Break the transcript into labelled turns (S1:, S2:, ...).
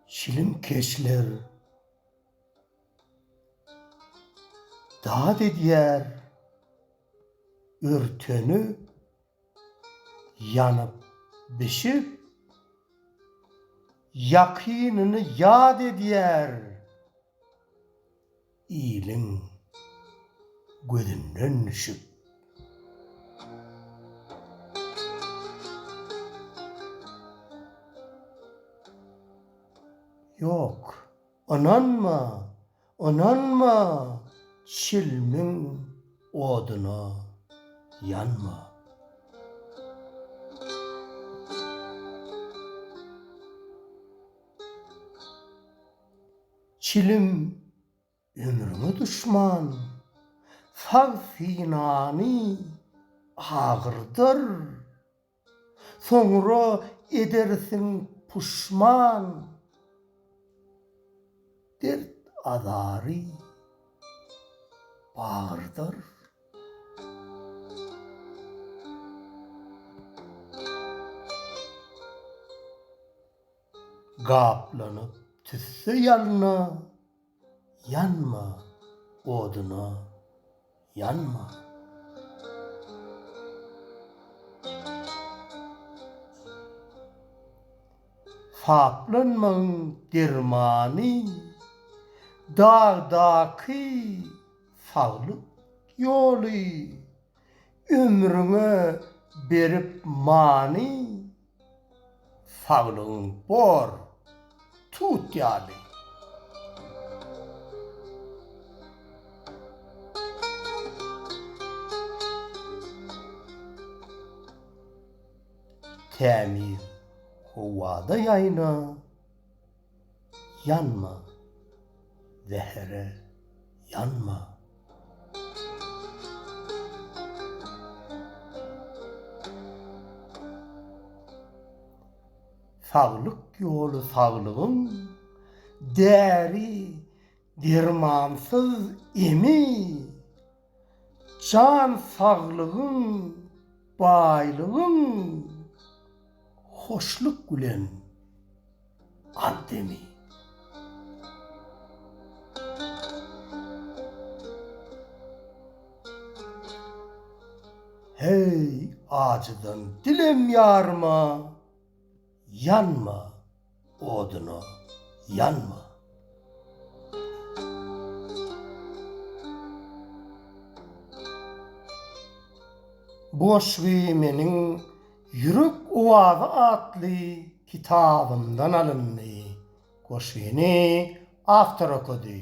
S1: Çilimkeşler dad edýär örteni Ýanyp, bişip, ýakynyny ýad edýär. Iliň gözünden düşüp. Ýok. Ynanma, ynanma, çilmiň oduna ýanma. Çilim ömrüňe duşman, sag synany agyrdar. Soňra edersiň puşman Dert-azary bagyrdyr. Gaplanyp tüsse ýalna. Ýanma oduna, ýanma! Saplanmagyň dermany, dagdaky saglyk ýoly, ömrüňe berip many. Saglygyň bor, tut ýaly. Tämiz howada ýaýla. Ýanma, zähere ýanma. Saglyk ýoly saglygyň däri-dermansyz emi. Jan saglygyň, baýlygyň hoşluk bilen al demi. Heý, ajydan dilem ýarma, ýanma Oduna ýanma! Bu goşgy meniň Ýürek owazy atly kitabymdan alyndy. Goşgyny awtor okady.